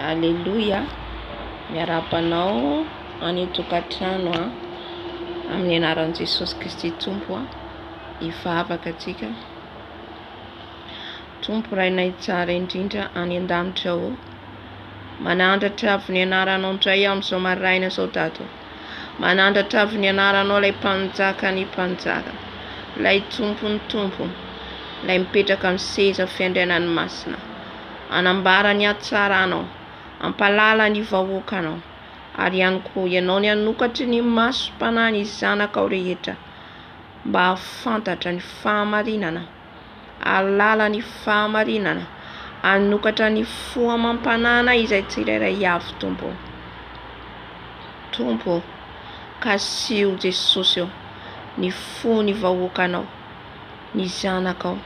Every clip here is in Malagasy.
Aleloia, miarahaba anao any an-tokantrano an, amin'ny anaran'i Jesosy Kristy Tompo an, hivavaka antsika. Tompo Rainay tsara indrindra any an-danitra ao, manandratra avy ny anaranao indray amin'izao maraina izao Dado. Manandratra avy ny anaranao ilay Mpanjakan'ny mpanjaka, ilay Tompon'ny tompo, ilay mipetraka amin'ny seza fiandrianan'ny masina. Hanambara ny hatsaranao, hampahalala ny vahoakanao, ary ihany koa ianao ny hanokatry ny masom-panahy ny zanakao rehetra mba hahafantatra ny fahamarinana. alalan'ny fahamarinana, hanokatra ny fo amam-panahana izay tsirairay avy, Tompo ô. Tompo ô, kasiho Jesosy ô, ny fon'ny vahoakanao, ny zanakao,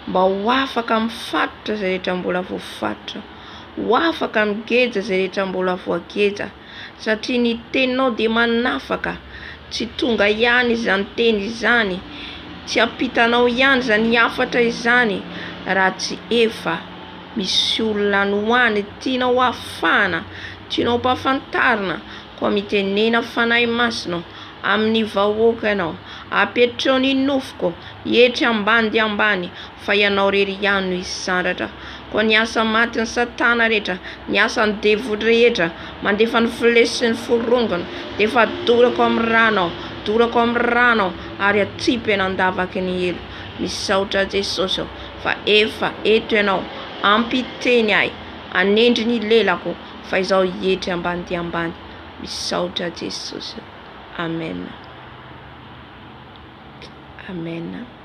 mba ho afaka mifatotra izay rehetra mbola voafatotra, ho afaka migeja izay rehetra mbola voageja, satria ny teninao dia manafaka, tsy tonga ihany izany teny izany, tsy ampitanao ihany izany hafatra izany raha tsy efa misy olona any ho any tianao hafahana, tianao ampahafantarina, koa mitenena Fanahy Masina amin'ny vahoaka ianao, apetreo ny nofoko etsy ambany dia ambany. Fa ianao irery ihany no hisy sandratra Koa ny asa matin'i satana rehetra Ny asan'ny devoly rehetra Mandefa ny fle sy ny forongony Defa dorako amin'ny rano aho Dorako amin'ny rano aho Ary atsipy eny an-davaky ny helo Misaotra Jesosy ô Fa efa eto ianao Ampiteny ahy Hanendry ny lelako Fa izaho hietry ambany dia ambany Misaotra Jesosy ô Amen Amen.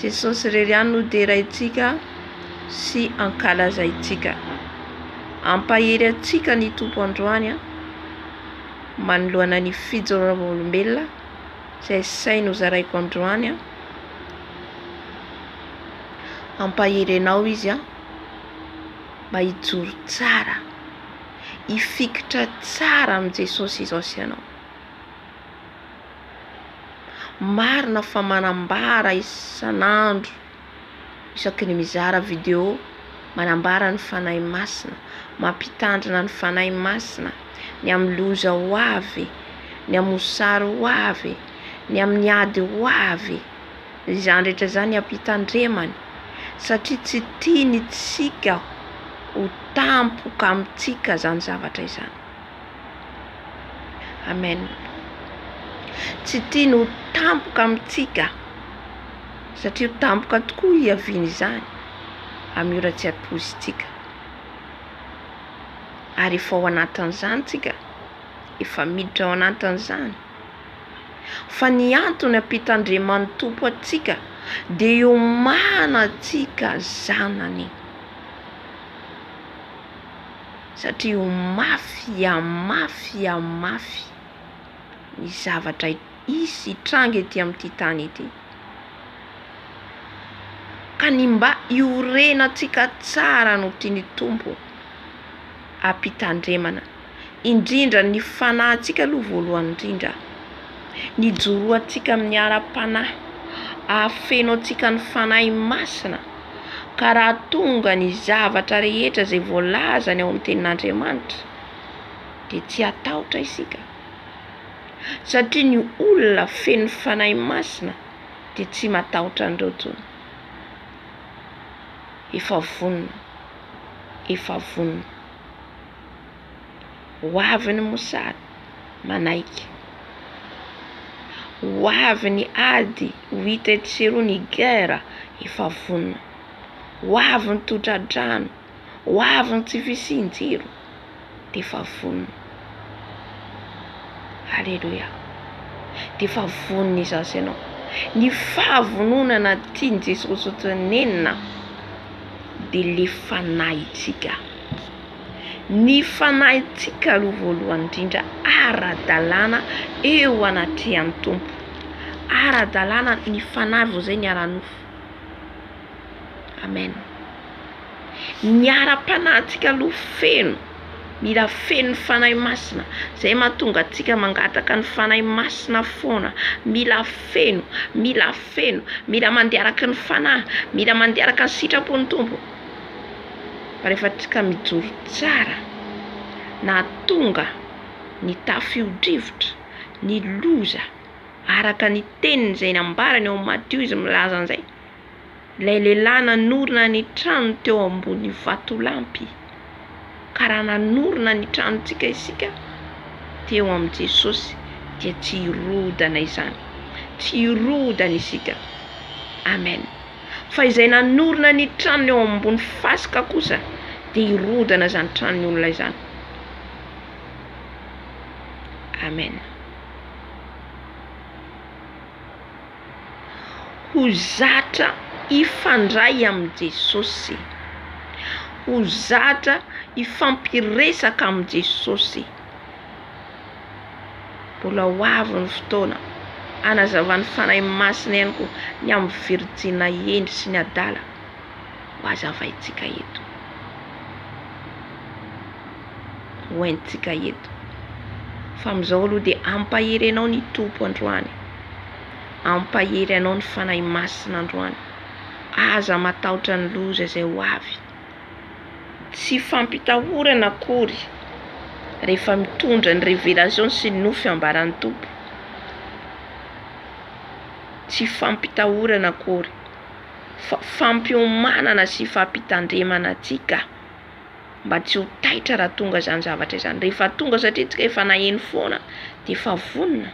Jesosy irery ihany no deraintsika sy ankalazaintsika. Hampahery antsika ny Tompo androany manoloana ny fijoroana vavolombelona izay sainy hozaraiko androany. Hampahery anao izy mba hijoro tsara, hifikitra tsara amin'i Jesosy izao sy ianao. Marina fa manambara isan'andro isaky ny mizara video manambara ny Fanahy Masina, mampitandrina ny Fanahy Masina ny amin'ny loza ho avy, ny amin'ny mosary ho avy, ny amin'ny ady ho avy, izany rehetra izany hampitandremany satria tsy tiany isika ho tampoka amintsika izany zavatra izany. Amen. Tsy tiany ho tampoka amintsika satria ho tampoka tokoa hiaviany izany amin'io ratsiatozintsika ary efa ao anatin'izany tsika, efa miditra ao anatin'izany fa ny antony ampitan-dRiaman'ny Tompo antsika dia hiomana antsika zanany. Satria ho mafy a mafy a mafy ny zavatra hisy hitranga ety amin'ity tany ity. Ka ny mba hiorenantsika tsara no tian'ny Tompo hampitandremana. Indrindra ny fanahintsika aloha voalohany indrindra. Ny hijoroantsika amin'ny ara-panahy. Hahafeno antsika ny Fanahy Masina. Ka raha tonga ny zavatra rehetra izay voalazany ao amin'ny Tenin'Andriamanitra dia tsy hatahotra isika, satria ny olona feno Fanahy Masina dia tsy matahotra an'ireo intsony. Efa vonona, efa vonona. Ho avy ny mosary, manaiky. Ho avy ny ady, ho hita etsy sy eroa ny guerre, efa vonona. Ho avy ny totra-drano, ho avy ny tsy fisian-jiro, dia efa vonona. Aleloia! Dia efa vonona izaho sy ianao. Ny fahavononana tian'i Jesosy ho tenenina dia ilay fanahintsika. Ny fanahintsika aloha voalohany indrindra ara-dalàna eo anatrehan'ny Tompo. Ara-dalàna ny fanahy vao izay ny ara-nofo. Amen. Ny ara-panahintsika aloha feno, mila feno Fanahy Masina. Izay mahatonga antsika mangataka ny Fanahy Masina foana. Mila feno, mila feno, mila mandeha araka ny Fanahy, mila mandeha araka ny sitrapon'ny Tompo. rehefa ka mijoro tsara nahatonga ny tafiodrivotra, ny loza araka ny teniny izay nambarany ao Matio izy milaza an'izay, ilay lehilahy nanorina ny tranony teo ambony vatolampy ka raha nanorina ny tranontsika isika teo amin'i Jesosy dia tsy hirodana izany, tsy hirodana isika, Amen. Fa izay nanorina ny tranony ao ambony fasika kosa dia hirodana izany tranony olona izany. Amen. Ho zatra hifandray amin'i Jesosy. Ho zatra hifampiresaka amin'i Jesosy. Mbola ho avy ny fotoana hanazavan'ny Fanahy Masina ihany koa ny amin'ny virijina hendry sy ny adala ho hazavaintsika eto, ho haintsika eto. Fa amin'izao aloha dia hampahery anao ny Tompo androany, hampahery anao ny Fanahy Masina androany. Aza matahotra ny loza izay ho avy. Tsy fampitahorana akory rehefa mitondra ny révélation sy ny nofy ambaran'ny Tompo. Tsy fampitahorana akory fa fampiomanana sy fampitandremana antsika mba tsy ho taitra raha tonga izany zavatra izany. Rehefa tonga satria antsika efa naheno foana dia efa vonona.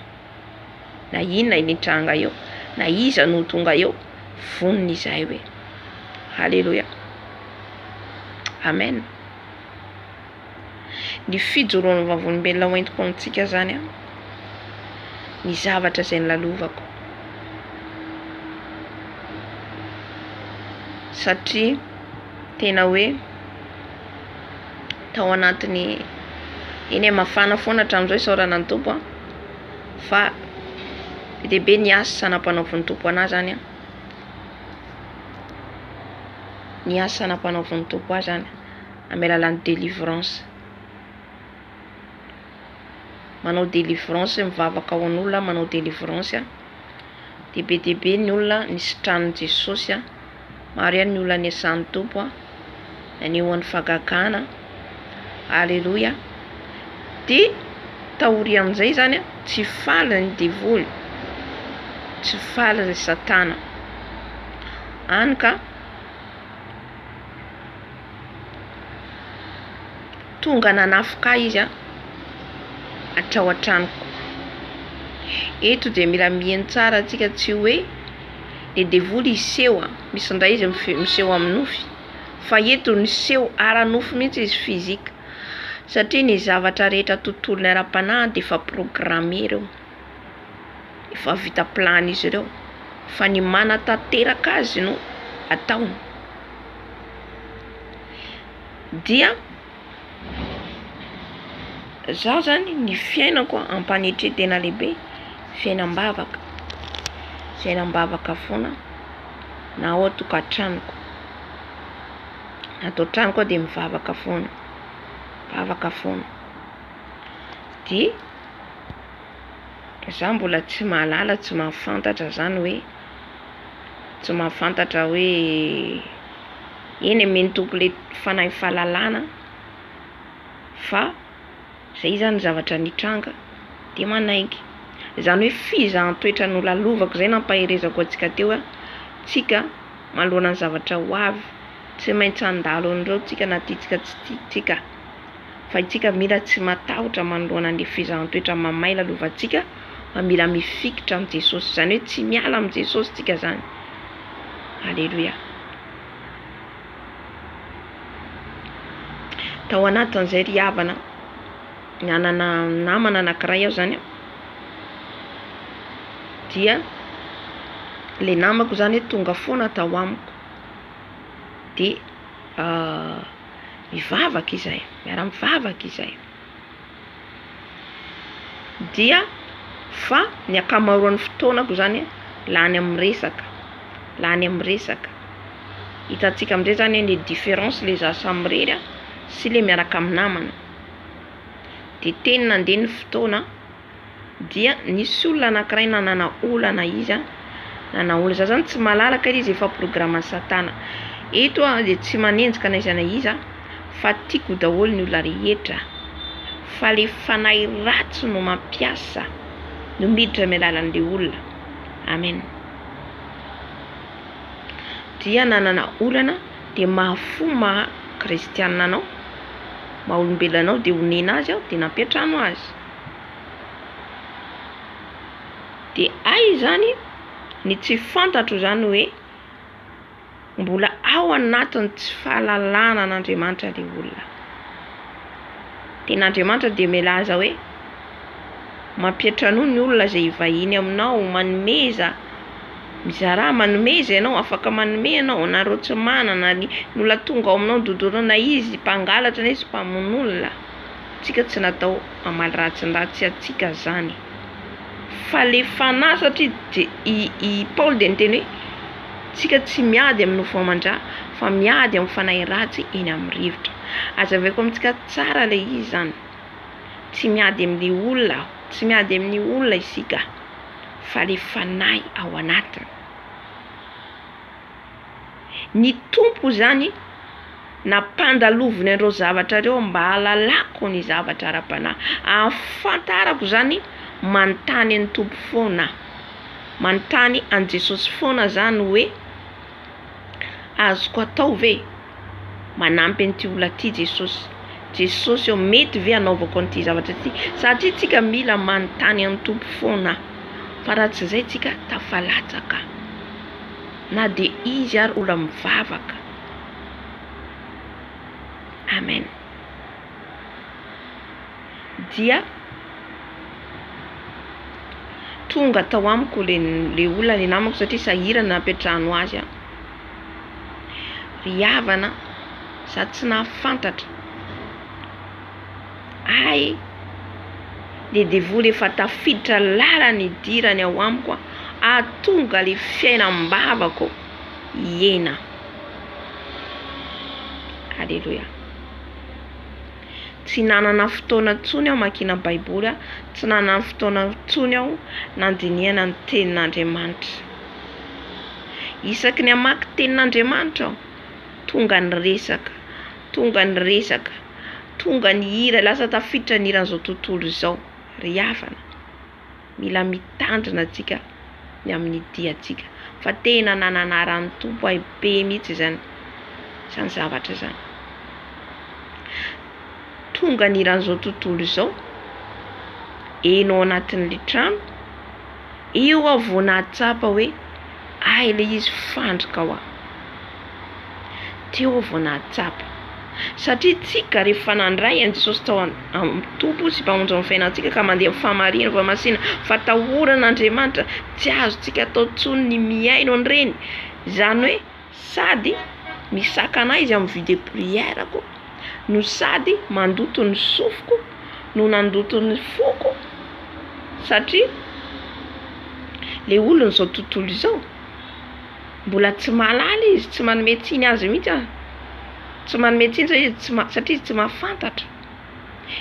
na inona io nitranga io, na iza no ho tonga eo, vonona izahay hoe, Haleloia! Amen! Ny fijoroan'ny Vavolombelona hoentiko amintsika izany an, ny zavatra izay nolalovako. Satria tena hoe tao anatin'ny, eny e, mafana foana hatramin'izao isaorana ny Tompo an. fa be dia be ny asa nampanaovin'ny Tompo anah zany an, ny asa nampanaovin'ny Tompo ahy zany amin'ny alalan'ny délivrance, manao délivrance mivavaka ho an'olona aho manao délivrance dia be dia be ny olona nisitranin'i Jesosy an. Maro ihany ny olona nesan'ny Tompo an! Anehoany fagagana an! Aleloia! Dia taorian'izay izany an, tsy faly ny devoly, tsy faly ry Satana. Any ka! Tonga nanafoka ahy izy an, hatrao an-tranoko. Eto dia mila miheno tsara antsika tsy hoe le devoly hiseho an, misy indray izy miseho amin'ny nofy fa eto ny seho ara-nofo mihitsy izy physique satria ny zavatra rehetra tontolony ara-panahy dia efa programme ireo, efa vita plan izy ireo fa ny manatanteraka azy no ataony. dia izaho izany ny fiainako ampanetry tena lehibe fiainam-bavaka, fiainam-bavaka foana na ao an-tokantranoko, ato an-tranoko aho dia mivavaka foana, mivavaka foana dia izaho mbola tsy mahalala, tsy mahafantatra izany hoe. tsy mahafantatra hoe eny e mino tompoko le fanahy fahalalana fa zay zany zavatra nitranga de manaiky zany hoe fizahan-toetra nolalovako zay nampaherezako antsika teo hoe tsika manoloana ny zavatra ho avy tsy maintsy handalo an'ireo tsika na tiantsika na tsy tiantsika. Fa itsika mila tsy matahotra manoloana ny fizaham-toetra mamay lalovantsika fa mila mifikitra amin'i Jesosy. Izany hoe tsy miala amin'i Jesosy tsika izany. Aleloia. Tao anatin'izay ry havana, nanana namana anankiray aho izany an. Dia ilay namako izany tonga foana tao amiko. Dia Mivavaka izay, miara-mivavaka izay. Dia fa ny ankamaroan'ny fotoanako zany lany amin'ny resaka, lany amin'ny resaka. Hitantsika amin'izay zany hoe ny différence le za samy irery sy le miaraka amin'ny namana. De teny nandeha ny fotoana. dia nisy olona anankiray nanana olana izy nanana olana za zany tsy malalaka ilay izy efa programme an'i satana eto aho dia tsy manenjika na iza na iza fa tiako daholo ny olona rehetra fa ilay fanahy ratsy no mampiasa no miditra amin'ny alalan'ilay olona amen dia nanana olana dia mahafo maha kristianina anao maha olombelona anao dia onena azy aho dia nampiantrano azy De hay izany ny tsy fantatro izany hoe mbola ao anatin'ny tsy fahalalana an'Andriamanitra le olona. Tena Andriamanitra dia milaza hoe mampiantra anao ny olona izay hivahiny aminao, manomeza, mizarà, manomeza ianao, afaka manome ianao, anareo tsy manana, ny olona tonga ao aminao dodorina izy, mpangalatra na izy mpamono olona. tsika tsy natao hamaly ratsy ny ratsy antsika izany fa le fanahy satria i i Paoly dia niteny hoe tsika tsy miady amin'ny nofo aman-dra fa miady amin'ny fanahy ratsy eny amin'ny rivotra. Azavaiko amintsika tsara ilay izy izany. Tsy miady amin'ny olona, tsy miady amin'ny olona isika fa le fanahy ao anatiny. Ny Tompo izany nampandaloviny an'ireo zavatra ireo mba hahalalako ny zavatra ara-panahy, ahafantarako izany manontany an'i Tompo foana aho, manontany an'i Jesosy foana izany hoe azoko atao ve e? manampy an'ity olona ity Jesosy, Jesosy ô mety ve anaovako an'ity zavatra ity? satria tsika mila manontany an'i Tompo foana aho, fa raha tsy izay tsika tafalatsaka. na dia izy ary ola mivavaka amen dia tonga tao amiko le le olona ny namako satria sahirana nampiantrano azy aho ry havana za tsy nahafantatra Hay! le devoly efa tafiditra lalana idirany ao amiko a! ahatonga le fiainam-bavako hiena. Aleloia! Tsy nanana fotoana intsony aho makiana baiboly a! tsy nanana fotoana intsony aho nandinihana ny tenin'Andriamanitra. Isaky ny hamaky tenin'Andriamanitra aho tonga ny resaka. Tonga ny resaka, tonga ny hira, lasa tafiditra ny hiran'izao tontolo izao ry havana. Mila mitandrina tsika ny amin'ny diantsika fa tena nananara ny Tompo ahy be mihitsy izany izany zavatra izany. Tonga ny hiran'izao tontolo izao, enao anatin'ilay trano, eo aho vao nahatsapa hoe hay ilay izy fandrika hoa. Teo aho vao nahatsapa. Satria tsika rehefa nandray an'i Jesosy tao amin'ny Tompo sy Mpamonjy ny fiainantsika ka mandeha amin'ny fahamariana fa masina fatahoran'Andriamanitra, tsy azontsika atao intsony ny mihaino an'ireny. Izany hoe sady misakana ahy izy amin'ny vie de prière-ko no sady mandoto ny sofiko no nandoto ny foko satria ilay olona izao tontolo izao. mbola tsy mahalala izy, tsy manome tsiny azy mihitsy aho. Tsy manome tsiny satria izy tsy ma- satria izy tsy mahafantatra.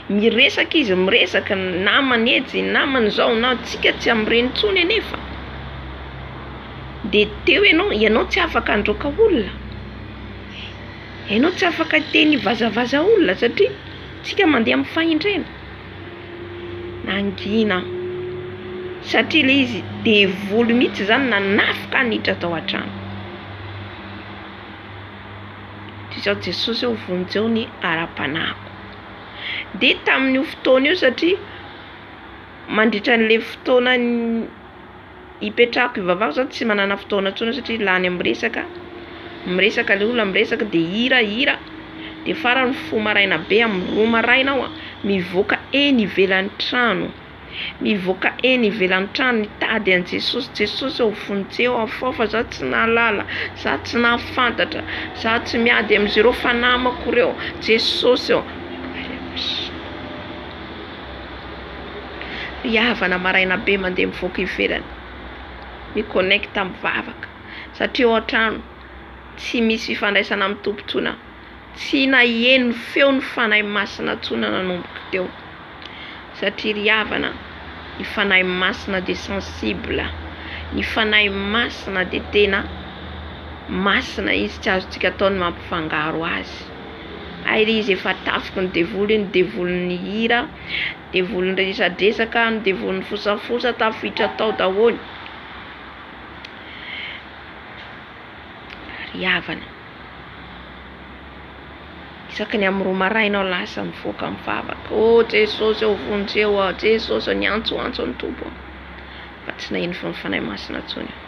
Miresaka izy, miresaka, ny namany etsy, ny namany izao, na antsika tsy hamireny intsony anefa. Dia teo ianao, ianao tsy afaka handroaka olona, ianao tsy afaka hiteny vazavaza olona satria isika mandeha amin'ny fahendrena. Nangina aho satria ilay izy devoly mihitsy izany nanafika ahy niditra tao an-trano. Toy izao Jesosy ô vonjeo ny ara-panahiko. Dia tamin'io fotoana io satria mandritra an'ilay fotoana Ipetrahako ivavako zany tsy manana fotoana tsony satria lany am resaka, miresaka le olona miresaka de hira hira de farany mifoha maraina be am roa maraina aho mivoaka eny ivelany trano mivoaka eny ivelany trano mitady an'i Jesosy, Jesosy ô vonjeo aho fao fa za tsy nahalala za tsy nahafantatra za tsy miady amzereo fanamako reo Jesosy ô. Ry havana maraina be mandeha mivoaka ivelany mi connecte mivavaka satria ao an-trano tsy misy fifandraisana amin'ny Tompo intsony tsy naheno feo ny Fanahy Masina intsony nanomboka teo satria ry havana ny Fanahy Masina dia sensible ny Fanahy Masina dia tena Masina izy tsy azontsika atao ny mampifangaro azy. Hay re izy efa tafiky ny devoly iny devolin'ny hira devolin'ny resadresaka ny devolin'ny fosafosa tafiditra tao daholo ry havana isaky ny amin'ny roa maraina aho lasa mivoaka amin'ny vavaka oh jesosy ô vonjeo aho jesosy ô niantsoantso ny tompo aho fa tsy naheno fony fanahy masina intsony aho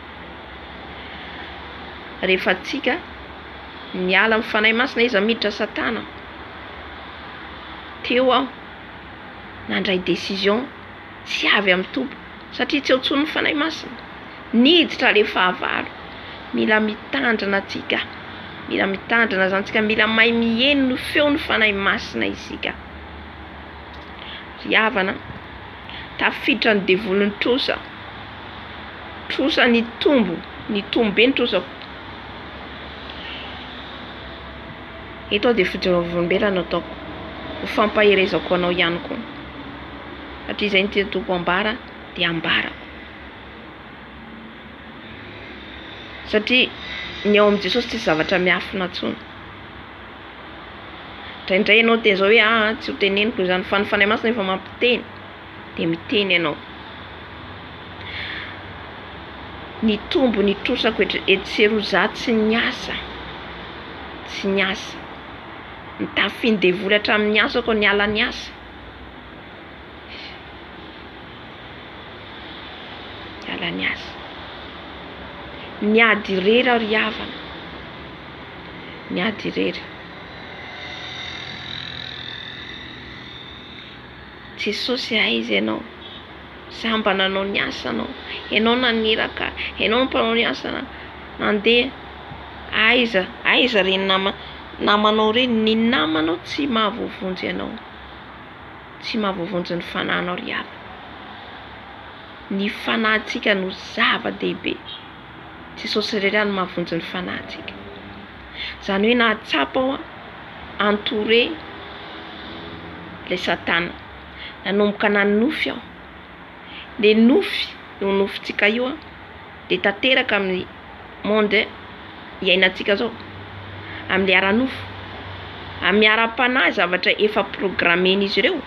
rehefa tsika Niala amin'ny Fanahy Masina izy miditra satana Teo aho nandray décision tsy avy amin'ny Tompo satria tsy eo intsony ny Fanahy Masina Niditra ilay fahavalo Mila mitandrina tsika Mila mitandrina zany tsika Mila mahay miheno ny feon'ny Fanahy Masina isika Ry havana Tafiditra ny devoly ny trosa Trosa nitombo Nitombo be ny trosako Eto aho dia fodiam-bavolombelona no ataoko. Ho fampaherezako anao ihany koa. Hatrizay ny tian-toko ambara dia ambarako. Satria ny ao amin'i Jesosy tsisy zavatra miafina intsony. Indraindray ianao te-izao hoe ahaa tsy ho teneniko izany. Fa ny Fanahy Masina efa mampiteny. dia miteny ianao. Ny tombony itrosako eto sy eroa za tsy niasa, tsy niasa. Nitafiny devoly hatramin'ny asako niala ny asa. Niala ny asa. Niady irery aho ry havana, niady irery. Jesosy a aiza ianao? Za mba nanao ny asana ô! Ianao naniraka, ianao no mpanao ny asana nandeha aiza? Aiza re ny nama namanao re? Ny namanao tsy mahavoavonjy anao, tsy mahavoavonjy ny fanahinao ry havana. Ny fanahintsika no zava-dehibe, Jesosy irery ihany no mahavonjy ny fanahintsika. Izany hoe nahatsapa aho entouré ilay satana. Nanomboka nanonofy aho. Dia nofy io nofintsika io dia tanteraka amin'ny monde iainantsika izao. Amin'ilay ara-nofo. Amin'ny ara-panahy zavatra efa programmen'izy ireo.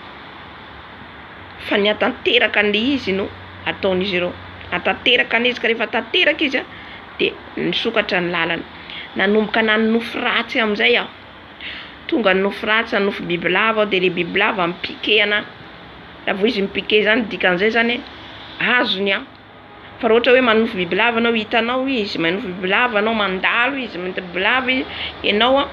Fa ny hahatanteraka an'ilay izy no ataon'izy ireo. Hahatanteraka an'izy ka rehefa tanteraka izy a. dia nisokatra ny lalana. Nanomboka nanonofy ratsy amin'izay aho. Tonga hanonofy ratsy, hanonofy bibilava aho dia ilay bibilava mi-piquer anà. Raha vao izy mi-piquer izany dia dikan'izay izany hoe azony aho. Fa raha ohatra hoe manonofy bibilava ianao, hitanao izy, manonofy bibilava ianao, mandalo izy, manonofy bibilava ianao,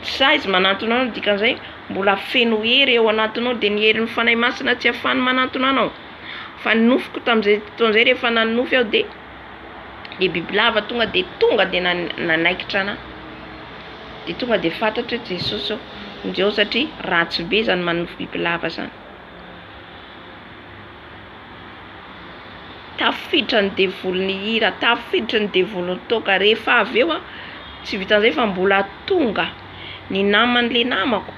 tsy sahy izy manantona anao, dikan'izay mbola feno hery ao anatinao. Dia ny herin'ny Fanahy Masina tsy afahany manantona anao. Fa ny nofiko tamin'izay fotoana izay rehefa nanonofy aho dia dia bibilava tonga dia tonga dia nanaikitra ana dia tonga dia fantatra hoe Jesosy aho njo satria ratsy be zany manonofy bibilava zany tafiditra ny devoly nihira tafiditra ny devoly nitoaka rehefa avy eo a tsy vitan'izay fa mbola tonga ny naman'le namako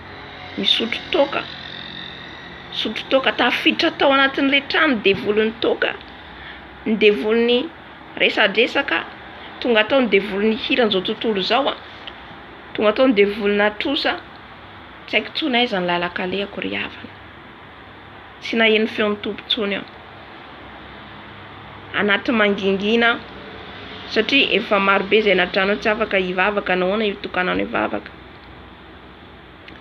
nisotro toaka nisotro toaka tafiditra tao anatin'le trano devoly nitoaka Ny devolin'ny resadresaka tonga tao ny devolin'ny hira an'izao tontolo izao a! Tonga tao ny devolinà trosa tsy haiko intsony aiza ny lalan-kalehako ry havana. Tsy naheno feon'ny Tompo intsony aho. Anaty mangingina aho satria efa marobe izay nadrano tsy afaka hivavaka nahoana io tokananao hivavaka.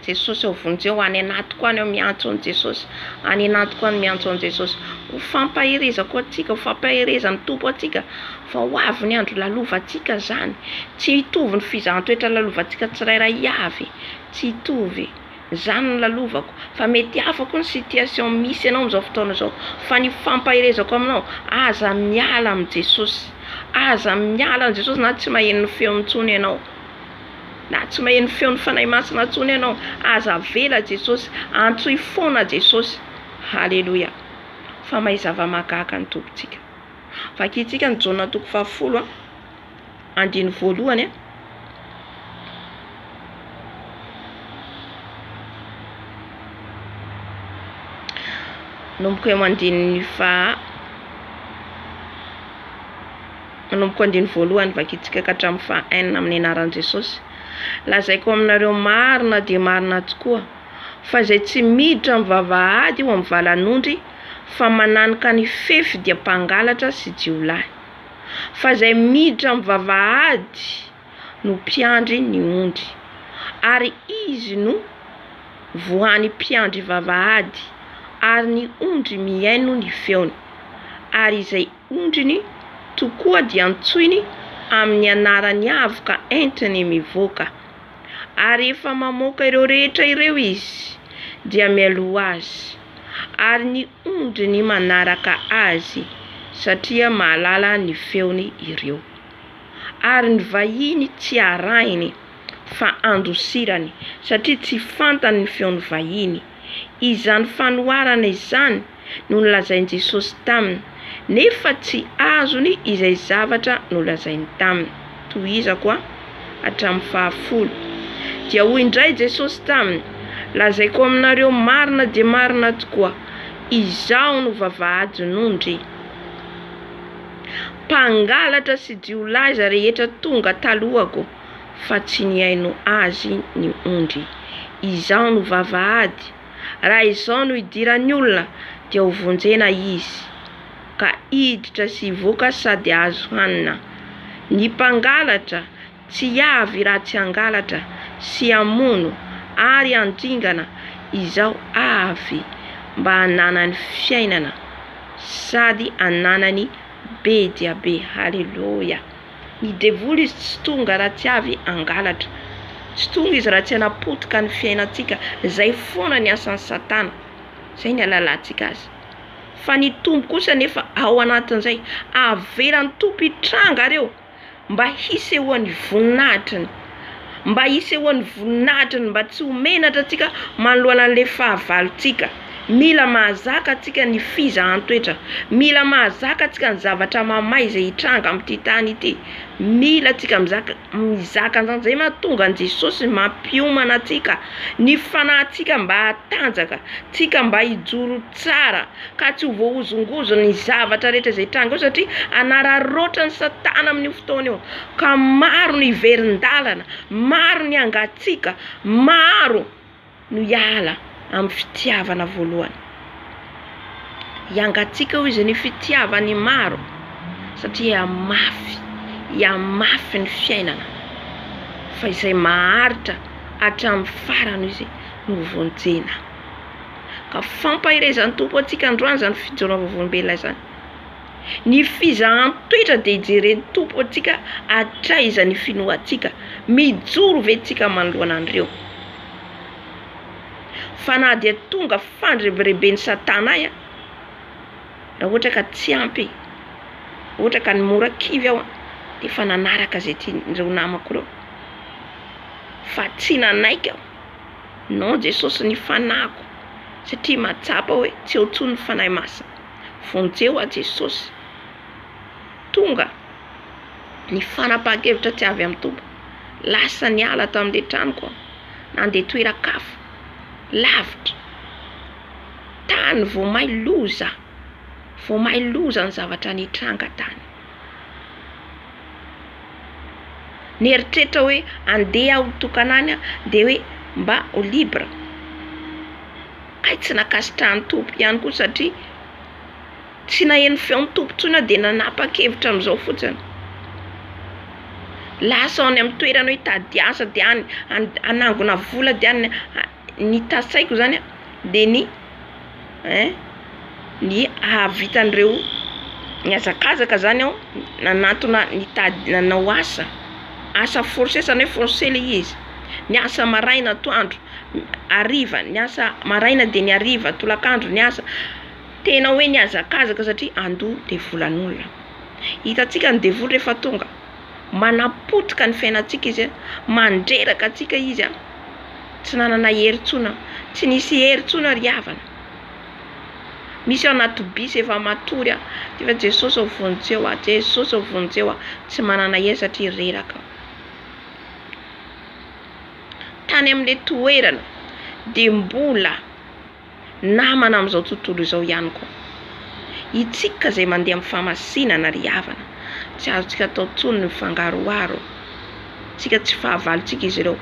Jesosy ao vonjeo any anatiko any aho miantso an'i Jesosy any anatiko any miantso an'i Jesosy ho fampaherezako antsika ho fampaherezan'ny Tompo antsika fa ho avy ny andro lalovantsika zany tsy hitovy ny fizahan-toetra lalovantsika tsirairay avy tsy hitovy zany ny lalovako fa mety hafa koa ny situation misy ianao amin'izao fotoana izao fa ny fampaherezako aminao aza miala amin'i Jesosy aza miala amin'i Jesosy na tsy maheno ny feony intsony ianao Na tsy maheno feon'ny Fanahy Masina intsony ianao, aza avela Jesosy, antsoy foana Jesosy. Haleloia. Fa mahay zava-mahagaga ny Tompontsika. Vakintsika ny Jaona toko fahafolo, andininy voalohany. Nomboka eo andininy faha. Manomboka andininy voalohany vakintsika ka hatramin'ny faha enina amin'ny anaran'i Jesosy. Lazaiko aminareo marina dia marina tokoa, fa izay tsy miditra amin'ny vavahady eo amin'ny valan'ondry, fa mananoka ny fefy dia mpangalatra sy jiolahy. Fa izay miditra amin'ny vavahady no mpiandry ny ondry, ary izy no voan'ny mpiandry vavahady, ary ny ondry mihaino ny feony, ary izay ondriny tokoa dia antsoiny amin'ny anarany avy ka entiny mivoaka. Ary efa mamoaka ireo rehetra ireo izy, dia mialoha azy, ary ny ondriny manaraka azy, satria mahalala ny feony ireo. Ary ny vahiny tsy arahiny, fa andosirany, satria tsy fantany ny feon'ny vahiny. Izany fanoharana izany no nolazain'i Jesosy taminy, nefa tsy azony izay zavatra nolazainy taminy. Tohizako a. Hatramin'ny fahafolo. Dia hoy indray Jesosy taminy, Lazaiko aminareo marina dia marina tokoa, Izaho no vavahadin'ondry. Mpangalatra sy jiolahy izay rehetra tonga talohako, fa tsy nihaino Azy ny ondry. Izaho no vavahady. Raha izao no idiran'ny olona dia ho vonjena izy ka hiditra sy hivoaka sady azo hanina. Ny mpangalatra tsy avy raha tsy hangalatra sy hamono ary handringana izao avy mba hananany fiainana sady hananany be dia be. Haleloia. Ny devoly izy tsy tonga raha tsy avy hangalatra. Tsy tonga izy raha tsy hanapotika ny fiainantsika. Izay foana ny asan'i satana. Izay ny alalantsika azy. Fa ny Tompo kosa anefa ao anatin'izay. Avelan'ny Tompo hitranga ireo mba hisehoan'ny voninahitriny. mba hisehoan'ny voninahitry ny mba tsy ho menatra antsika manoloana an'ilay fahavalontsika. Mila mahazaka antsika ny fizahan-toetra. Mila mahazaka antsika ny zavatra mamay izay hitranga amin'ity tany ity. Mila antsika mizaka mizaka an'izany. Izay no mahatonga an'i Jesosy mampiomana antsika ny fanahintsika mba hatanjaka, tsika mba hijoro tsara. ka tsy ho voahozongozon' ny zavatra rehetra izay hitranga eo, satria hanararaotra ny Satana amin' io fotoana io, ka maro no hiverin-dalana, maro ny hangatsiaka, maro no hiala amin'ny fitiavana voalohany. Hiangatsiaka, hoy Izy, ny fitiavan' ny maro, satria hihamafy, hihamafy ny fiainana, fa izay maharitra hatramin'ny farany, hoy Izy, no ho vonjena. Ka fampaherezan'ny Tompo antsika androany zany fidiovana vavolombelona izany. Ny fizahan-toetra dia hijeren'ny Tompo antsika hatraiza ny finoantsika. Mijoro ve tsika manoloana an'ireo. Fa na dia tonga fandrebireben'i satana ahy, raha ohatra ka tsy ampy e, ohatra ka mora kivy aho dia efa nanaraka izay tian'ireo namako ireo. Fa tsy nanaiky aho. Non Jesosy ny fanahiko satria mahatsapa hoe tsy eo intsony ny Fanahy Masina. Vonjeo aho Jesosy. Tonga ny fanapahan-kevitra tsy avy amin'ny Tompo. Lasa niala tamin'ilay tranoko aho. Nandeha toeran-kafa, lavitra. Tany vao may loza, vao may loza ny zavatra nitranga tany. Nieritreritra hoe andeha aho tokana any dia hoe mba ho libre. Hay tsy nankasitrahan'ny Tompo ihany koa satria tsy naheno feon'ny Tompo intsony aho dia nanapa-kevitra amin'izao fotsiny. Lasa any amin'ny toerana hoe hitady asa dia any hanangona vola dia any. ny tasaiko zany a de ny ein ny hahavitan'ireo mihazakazaka zany aho nanantona nitady nanao asa, asa force zany hoe force le izy, miasa maraina atoandro hariva, miasa maraina de ny hariva, tolakandro ny asa, tena hoe nihazakazaka satria andoha devolan'olona, hitantsika ny devoly rehefa tonga. manapotika ny fiainantsika izy, mandreraka antsika izy, tsy nanana hery intsony, tsy nisy hery intsony ry havana, misy ao anaty bus efa matory an! dia efa Jesosy ô vonjeo aho, Jesosy ô vonjeo aho, tsy manana hery satria reraka aho, tany amin'ilay toerana dia mbola. namana amin'izao tontolo izao ihany koa. Isika izay mandeha amin'ny famasinana ry havana, tsy azontsika atao intsony ny mifangaroharo. Isika tsy fahavalontsika izy ireo,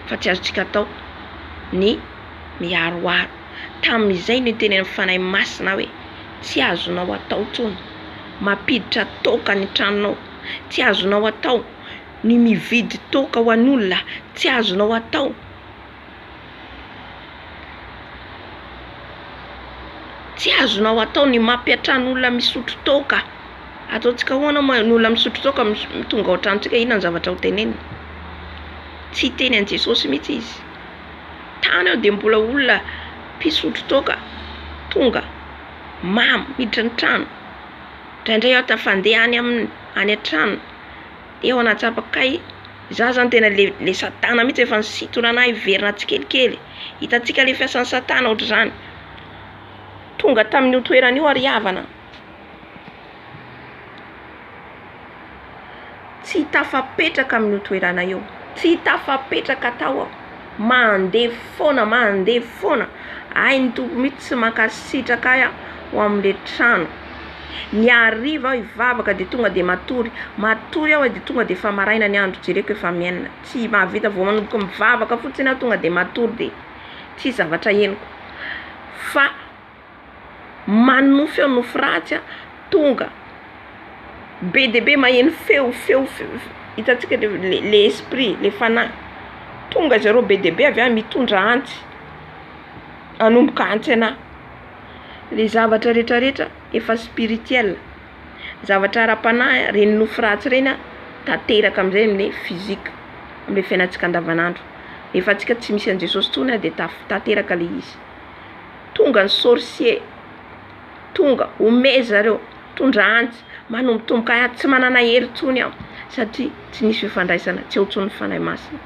fa tsy azontsika atao ny miharoharo. Tamin'izay no itenenan'ny Fanahy Masina hoe, Tsy azonao atao intsony mampiditra toaka any an-tranonao. Tsy azonao atao ny mividy toaka ho an'olona. Tsy azonao atao. Tsy azonao atao ny mampiantrano olona misotro toaka. Ataontsika ahoana moa ny olona misotro toaka tonga ao an-tranontsika, inona no zavatra ho teneniny? Tsy hiteny an'i Jesosy mihitsy izy. Tany aho dia mbola olona mpisotro toaka tonga mamo miditra ny trano. Indraindray aho tafa-handeha any amin'ny any an-tranony Teo aho nahatsapa kay izaho zany tena le le satana mihitsy efa nisintona anah hiverina tsikelikely e! Hitantsika le fiasan'i satana ohatr'izany. Tonga tamin'io toerana io ary havana tsy tafapetraka amin'io toerana io, tsy tafapetraka tao aho. mandevy foana mandevy foana hay ny tompo mitsy tsy mankasitraka ahy aho ho amle trano ny hariva aho hivavaka de tonga de matory matory aho de tonga de efa maraina ny andro jereko efa mi enina tsy mahavita vao manomboka mivavaka fotsiny aho tonga de matory de tsisy zavatra henoko fa manonofy ao nofy ratsy a tonga be dia be maheno feo feo hitantsika le le esprit le fanahy tonga zareo be dia be avy any mitondra antsy hanomboka antsy anah le zavatra rehetra rehetra efa spiritiel zavatra ara-panahy reny nofy ratsy ireny a tanteraka amizay amle fizika amle fiainantsika andavanandro rehefa antsika tsy misy an'i Jesosy intsony a de taf- tanteraka le izy. Tonga ny sorcier Tonga omey zareo Tondra antsy Manombotomboka any Tsy manana hery tsony aho Satria tsy misy fifandraisana Tsy eo tsony ny Fanahy Masina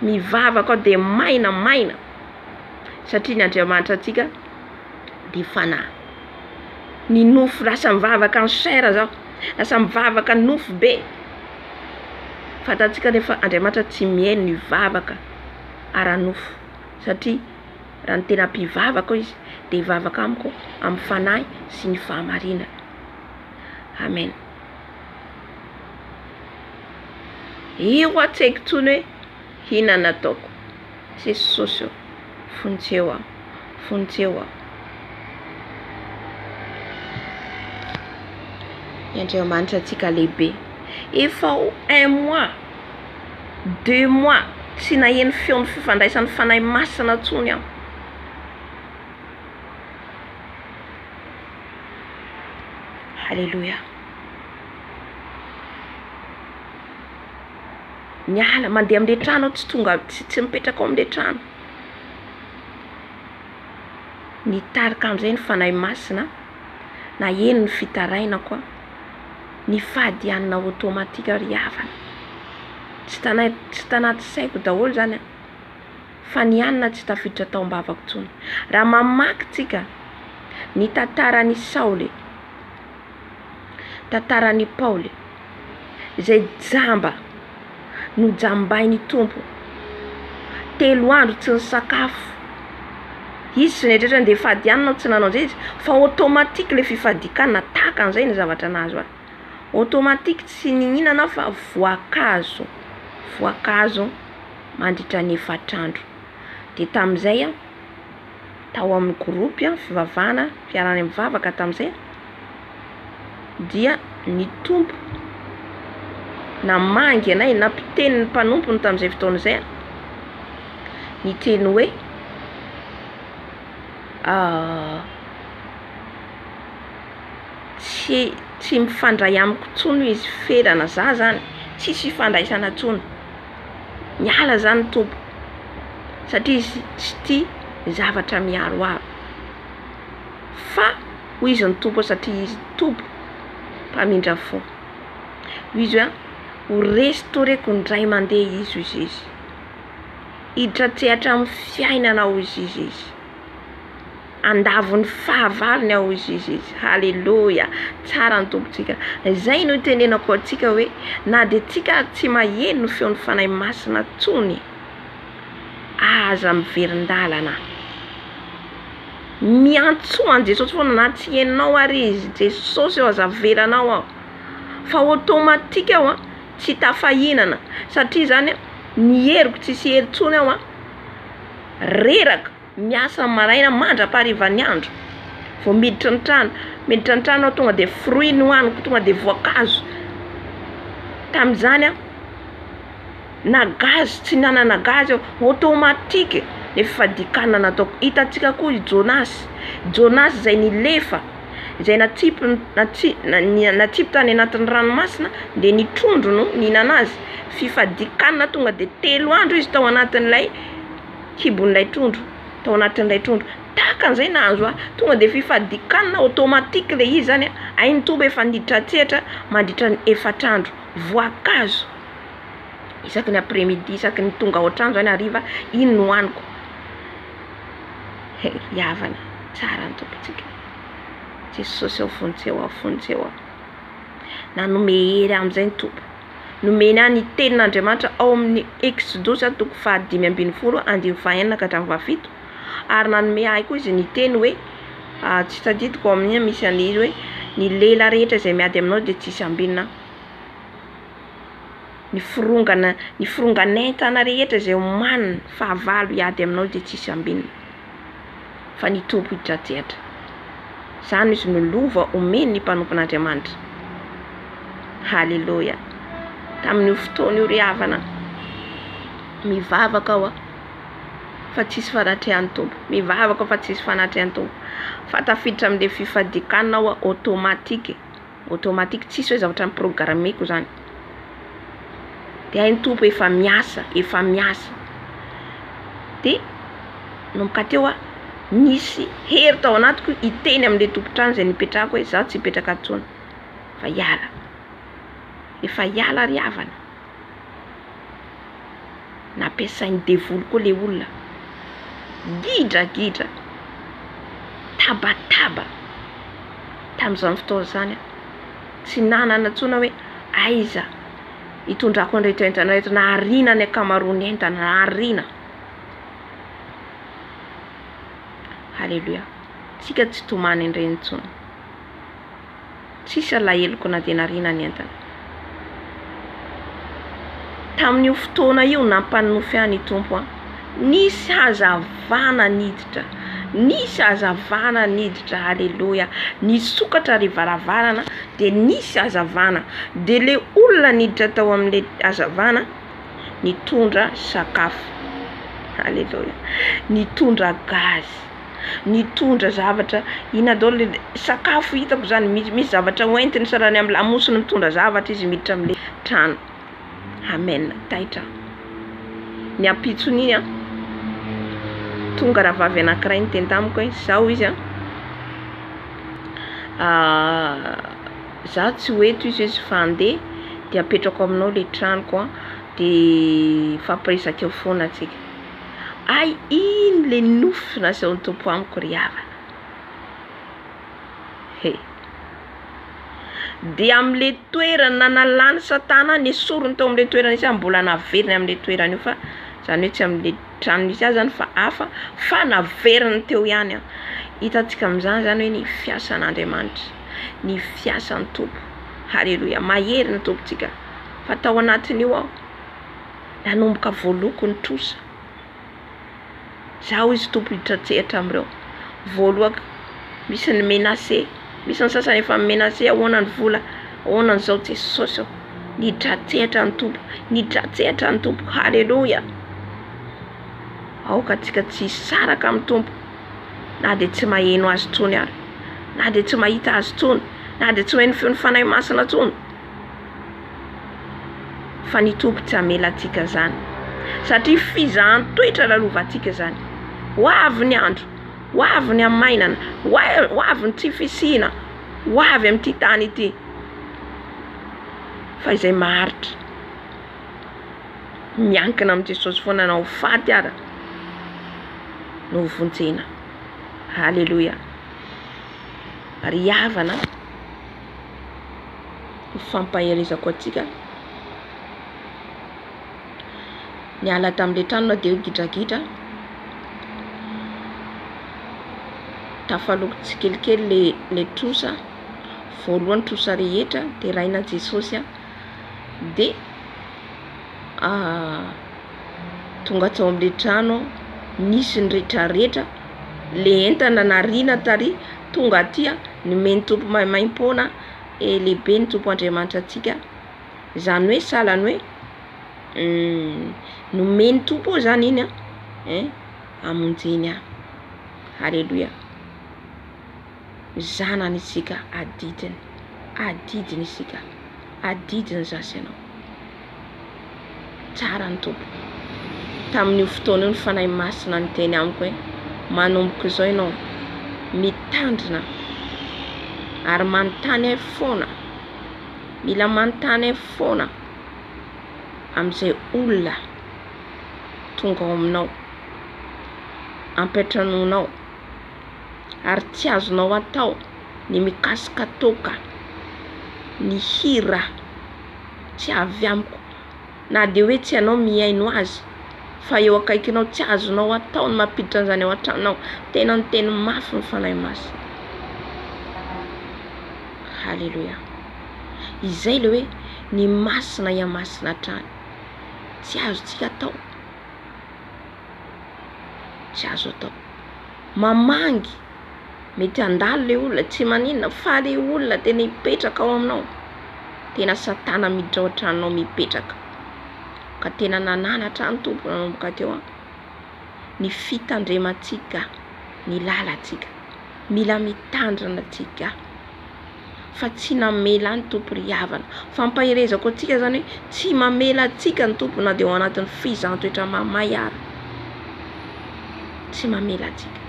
Mivavaka aho dia maina maina Satria ny Andriamanitra antsika dia Fanahy Ny nofo lasa mivavaka en chair zao Lasa mivavaka nofo be Fantantsika anefa Andriamanitra tsy mihaino ny vavaka ara-nofo Satria Raha ny tena mpivavaka hoy izy dia hivavaka amiko amin'ny fanahy sy ny fahamarinana. Amen. Io hoa tsy haiko intsony hoe hina nataoko. Jesosy o, vonjeo aho, vonjeo aho. Ny Andriamanitra antsika lehibe. Efa ho un mois. deux mois tsy naheno feon'ny fifandraisan'ny Fanahy Masina intsony aho. Haleloia. Miala mandeha amin'ilay trano aho tsy tonga tsy tsy mipetraka ao amin'ilay trano. Nitarika an'izay ny Fanahy Masina naheno ny fitarainako aho. ny fahadianana automatique ry havana. Tsy tanay tsy tanaty saiko daholo izany an! Fa ny hanina tsy tafiditra tao am-bavako intsony. Raha mamaky tsika ny tantaran'i Saoly, tantaran'i Paoly, izay jamba. Nojambain'ny Tompo. Telo andro tsy nisakafo. Izy sy ny rehetra rehetra dia fadianina aho tsy nanao izay izy fa automatique ilay fifadian-kanina tahaka an'izay ny zavatra nahazo ahy. Automatique tsy nihinana aho fa voankazo, voankazo mandritra ny efatr'andro. Dia tamin'izay aho. Tao amin'ny gropy fivavahana fiaraha-mivavaka tamin'izay dia ny Tompo namangy anay na mpiteny ny mpanompony tamin'izay fotoana izay niteny hoe tsy tsy mifandray amiko intsony hoy izy, ferana, za zany tsisy ifandraisana intsony. Miala zany Tompo satria izy tsy tia ny zavatra miaroaro. Fa hoy izy ny Tompo satria izy Tompo mpamindra fo. Hoy izy hoe ho restaureko indray mandeha izy hoy Jésus. Hiditra an-tsehatra amin'ny fiainanao hoy Jésus. Andavon'ny fahavalony aho hoy Jesosy. Haleloia! Tsara ny Tompontsika. Izay no itenenako antsika hoe na dia tsika ary tsy maheno ny feon'ny Fanahy Masina intsony, aza miverin-dalana. Miantsoa an'i Jesosy foana na tsy henonao ary Izy, Jesosy ô aza avelanao aho. Fa automatique aho tsy tafahinana satria izany ny heriko tsy hisy hery intsony aho reraka. Miasa amin'ny maraina mandra-paharivan'ny andro vao miditra ny trano. Miditra ny trano aho tonga dia fruit no hohaniko, tonga dia voankazo. Tamin'izany aho na gazy tsy nanana gazy aho, automatique le fadikanana nataoko. Hitantsika koa i Jonas, Jonas izay nilefa, izay natsipy natsi- na- natsipy tany anatin'ny ranomasina dia ny trondro no nihinana azy. Fifadikanana tonga dia telo andro izy tao anatin'ilay. kibon'ilay trondro, tao anatin'ilay trondro, tahaka an'izay nahazo ahy, tonga de fifadikanana automatique le izy zany a, hay ny toby efa niditra an-tsehatra mandritra ny efatra andro, voankazo isaky ny après midi isaky ny tonga ao an-trano zany hariva iny no haniko, hay i havana tsara ny tompontsika, Jesosy ao fontsy eo, ao fontsy eo, nanome hery ahy amizay ny Tompo. Nomena ny Tenin'Andriamanitra ao amin'ny Eksodosa toko fahadimy ambin'ny folo andininy fahenina ka hatramin'ny fahafito, ary nanome ahy koa Izy ny teny hoe, Tsy tadidiko ao amin'ny misy an'ilay izy hoe, Ny lehilahy rehetra izay miady aminao dia tsisy ambinina, ny firongan, ny firongan'entana rehetra izay omaniny, fahavalo, hiady aminao dia tsisy ambinina. fa ny Tompo hidrajehatra. Izany izy no lova omen ny mpanompon'Andriamanitra. Haleloia. Tamin'io fotoana io ry havana, mivavaka aho fa tsisy fanatrehan'ny Tompo, mivavaka aho fa tsisy fanatrehan'ny Tompo, fa tafiditra amin'ilay fifadian-kanina aho automatique. automatique tsisy hoe zavatra no programmeko zany de hay ny Tompo efa miasa efa miasa de manomboka teo aho nisy hery tao anatiko hiteny amle tompon-trano zay nipetrahako hoe za tsy hipetraka ato tsony fa hiala efa hiala ry havana Nampiasain'ny devoly koa ilay olona. Gidragidra, tabataba tamin'izany fotoana izany aho. Tsy nanana intsony aho hoe aiza hitondrako an'ireto entana ireto. Nahariana ny ankamaroan'ny entana, nahariana. Haleloia. Isika tsy tomany an'ireny intsony. Tsisy alaheloko na dia nariana ny entana. Tamin'io fotoana io nampanonofy ahy ny Tompo an. Nisy hazavana niditra, nisy hazavana niditra, aleloia. Nisokatra ilay varavarana dia nisy hazavana, dia ilay olona niditra tao amin'ilay hazavana nitondra sakafo, aleloia, nitondra gazy. nitondra zavatra inona daholo le sakafo hitako zany misy misy zavatra hoentiny sa raha ny amin'ny lamosiny mitondra zavatra izy miditra amle trano amen taitra aho ny ampitson'iny an tonga rahavavy anankiray niteny tamiko hoe zao izy an za tsy ho eto izy izy fa andeha de apetrako aminao le tranoko an de hifampiresaka eo foana tsika Ay iny le nofy nasehon'ny Tompo amiko ry havana he! Dia amin'le toerana nanalan'i satana nesoriny tao amin'le toerana nisy azy mbola naveriny amin'le toerana io fa zany hoe tsy amin'le trano nisy azy zany fa hafa fa naveriny teo ihany aho, hitantsika amin'izany zany hoe ny fiasan'Andriamanitra, ny fiasan'ny Tompo, haleloia, mahery ny Tompontsika fa tao anatin'io aho. nanomboka voaloako ny trosa. Zah hoy izy Tompo hiditra an-tsehatra amin'ireo voaloako. Misy ny menace, misy ny sasany efa mi-menace ahoana ny vola, ahoana ny zao Jesosy ô. Niditra an-tsehatra ny Tompo, niditra an-tsehatra ny Tompo. Haleloia. Aoka antsika tsy hisaraka amin'ny Tompo na dia tsy maheno Azy intsony ary, na dia tsy mahita Azy intsony, na dia tsy maheno feon'ny Fanahy Masina intsony. fa ny Tompo tsy hamela antsika izany satria fizahan-toetra lalovantsika izany. Ho avy ny andro, ho avy ny hamainana, ho avy ny tsy fisiana, ho avy amin'ity tany ity. Fa izay maharitra, miankina amin'i Jesosy foana na ho faty ara no ho vonjena. Haleloia! Ry havana a! ho fampaherezako antsika. Niala tamin'ilay trano na dia hoe gidragidra. Tafaloko tsikelikely ilay trosa, voalohany trosa rehetra, deraina Jesosy aho. Dia ah, tonga tao amin'ilay trano aho, nisy ny retraretra, ilay entana nariana tary. tonga aty a, nomeny ny Tompo maimaim-poana e, lehibe ny Tompo Andriamanitra antsika, izany hoe sahala ny hoe nomen'ny Tompo eo izany iny a, hamonjeny ahy, aleloia, zanany isika, adidiny, adidiny isika, adidiny za sy ianao. Tsara ny Tompo. Tamin'io fotoana io ny Fanahy Masina niteny amiko hoe, manomboka izao ianao mitandrina ary manontany ahy foana, mila manontany ahy foana amin'izay olona tonga ao aminao, ampiantranoinao, ary tsy azonao atao ny mikasika toaka, ny hira. tsy avy amiko na dia hoe tsy ianao mihaino azy fa eo akaikinao tsy azonao atao ny mampiditra an'izany ao an-tranonao tena ny teny mafy ny fanahy masina haleloia izay le hoe ny masina iamasina hatrany tsy azontsika atao tsy azo atao. Mamangy, mety handalo le olona tsy maninona fa le olona tena hipetraka ao aminao, tena satana miditra ao an-tranonao mipetraka, ka tena nananatra ahy ny Tompo nanomboka teo an, ny fitandremantsika ny lalantsika, mila mitandrina tsika. fa tsy namela ny Tompo ry havana. Fampaherezako antsika zany hoe tsy mamela antsika ny Tompo na de ao anatin'ny fizaham-toetra mahamay ara. Tsy mamela antsika.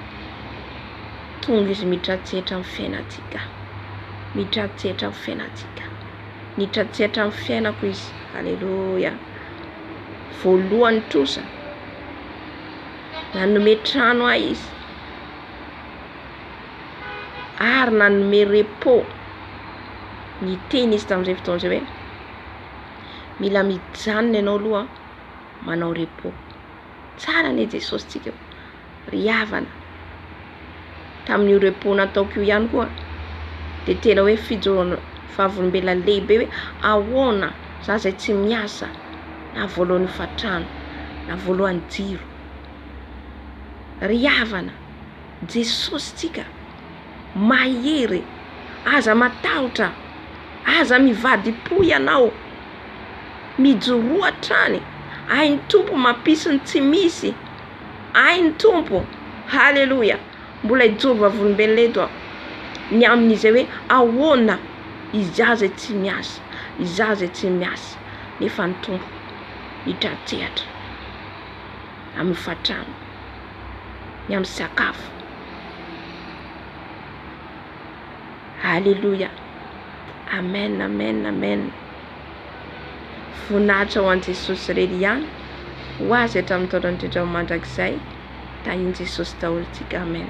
Tonga izy mitratsehatra amin'ny fiainantsika. Mitratsehatra amin'ny fiainantsika. Nitratsehatra amin'ny fiainako izy. Aleloia. Voalohany trosa. Nanome trano ahy izy. ary nanome repos ny teny izy tamin'izay fotoana izay hoe mila mijanona ianao aloha manao repos, tsara anie Jesosy tsika, ry havana, tamin'io repos nataoko io ihany koa de tena hoe fijoroana vavolombelona lehibe hoe ahoana za zay tsy miasa na voalohan'ny hofantrano na voalohan'ny jiro, ry havana. Jesosy tsika mahery aza matahotra aza mivadipo ianao mijoroa hatrany ainy tompo mampisy ny tsy misy ainy tompo haleloia mbola hijoro vavolombelona eto aho ny amin'izay hoe ahoana izaho zay tsy miasa izaho zay tsy miasa nefa ny tompo mitratsehatra amin'ny hofantrano, ny amin'ny sakafo. Aleloia, Amen, Amen, Amen. Voninahitra ho an'i Jesosy irery ihany, ho Azy hatramin'ny taona indrindra ho mandrakizay. Tahian'i Jesosy daholo tsika. Amen.